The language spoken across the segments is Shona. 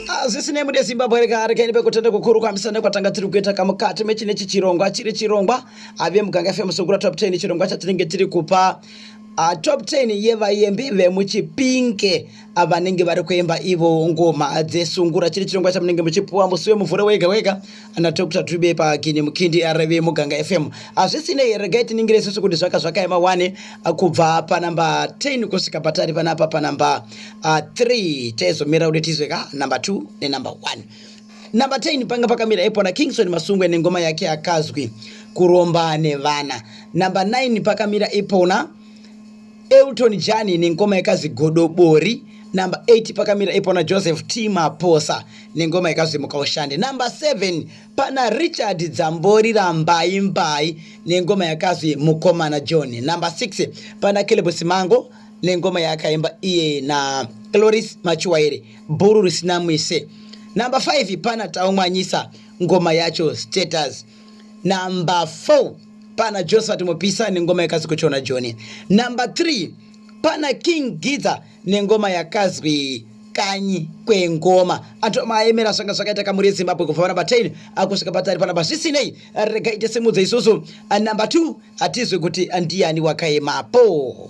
hazvisi nemu nezimbabwe rega rekaini pekutenda kukuru kwamisa nekwatanga tiri kuita kamukati mechine chichirongwa chiri chirongwa ave muganga fm sungura top 10 chirongwa chatinenge tiri kupa Uh, top 10 yevayembi vemuchipinke ah, vanenge vari kuemba ivo ngoma dzesungura chiri chirongwa chamunenge muchipuwa musi wemuvhure wega wega ana dr tube pakini mukindi arv muganga fm hazvisinei here gai tiningire isusu kuti zvaka zvakaema wane ah, kubva panamba 10 kusvika patari panapa panamba 3 ah, taizomira kuti tizwe ka namba 2 nenamba 1 namba 10 panga pakamira ipo na kingson masungwe nengoma yake akazwi kuromba nevana namba 9 pakamira ipona Elton Jani nengoma yekazi Godobori number 8 pakamira ipo na Joseph T Maposa nengoma yekazi Mukaushande number 7 pana Richard Dzambori rambai mbai nengoma yakazi Mukomana John number 6 pana Caleb Simango nengoma yaakaimba iye na Cloris Machiwaire bhuru risina mwise number 5 pana Taumwanyisa ngoma yacho status number 4 pana josephat mupisa nengoma yakazwi kuchona joni number 3 pana king gidza nengoma yakazwi kanyi kwengoma antu amaemera zvanga zvakaita kamuri yezimbabwe kubva panumber 10 akusvika patari panumber zvisinei rega ite simudze isusu number 2 hatizwi kuti ndiyani wakaemapo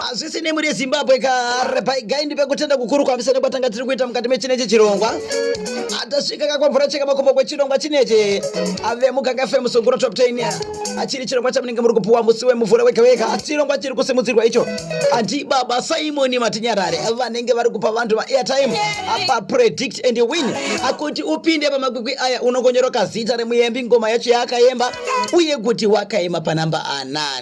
hazvisi nemu rezimbabwe kare paigaindi pekutenda kukuru kwamisa nekwatanga tiri kuita mukati mechinechi chirongwa atasvika kakwamvura cheka makumbo kwechirongwa chinechi ave muganga fm sunguro top 10 achiri chirongwa chamunenge muri kupuwa musi wemuvhura wega wega chirongwa chiri kusimudzirwa icho andi baba simoni matinyarare vanenge vari kupa vanhu vaairtime apa predict and win akuti upinde pamakwikwi aya unongonyoroka zita remuyembi ngoma yacho yaakaemba uye kuti wakaema panamba anani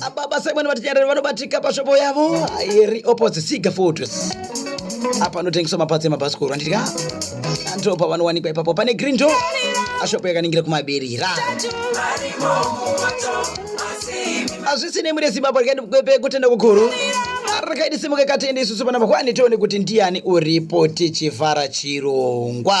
Ababa Simon Vatinyarari vanobatika pashopo yavo iri opposite Siga Fortress. Apa anotengeswa mapatsi emabhasikoro handidya ndipo pavanowanikwa ipapo pane green door ashopo yakaningira kumabirira hazvisi nemuri yezimbabwe rikaendikwepe kutenda kukuru rakaidi simuka katende isusu vana vakwani tione kuti ndiani uripo tichivhara chirongwa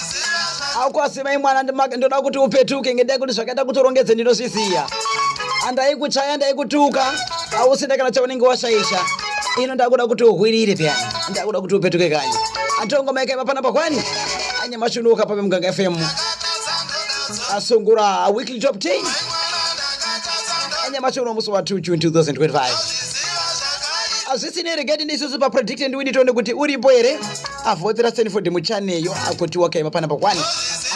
akwasi mai mwana ndoda kuti upetuke ngendai kuti zvakaita kuti urongedze ndinozviziva andaikuchaya ndaikutuka ausina kana chaunenge washaisha ino ndakuda kuti uhwirire peyani ndakuda kuti upetuke kanyi atongo maikaiva panapa kwani anyamashi unoka pape muganga fm asungura weekly top 10 anyamashi uno musi wa 2 june 2025 hazvisinei regati ndisusu papredict and winitoone kuti uripo here avhotera stanford muchaneyo akoti wakaiva panapa kwani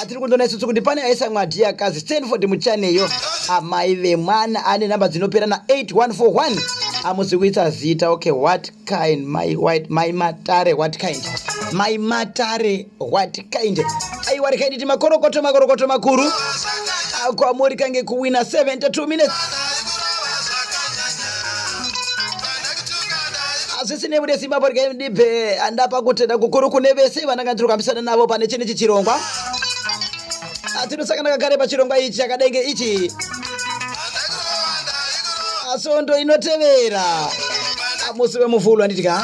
atiri kundona isusu kuti pane aisa mwadhi akazi stanford muchaneyo amai vemwana ane namba dzinopera na 8141 amusi kuisa zita okay what kind my, white, my matare what kind my matare what kind aiwa rikaititi makorokoto makorokoto makuru kwamuri kange kuwina 72 minutes zvisinei simba porya ndibve andapa kutenda kukuru kune vese vananga ndiri kukambisana navo pane chine ichi chirongwa tinosangana kagare pachirongwa ichi chakadenge ichi svondo inotevera musi wemuvhulu handitya